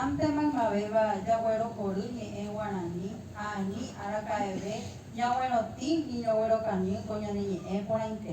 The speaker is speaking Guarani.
Hi'ãnte maymavéva jaguerohory ñe'ẽ guarani ha ani araka'eve ñaguerotĩ ni ñoguerokañy ko ñane ñe'ẽ porãite.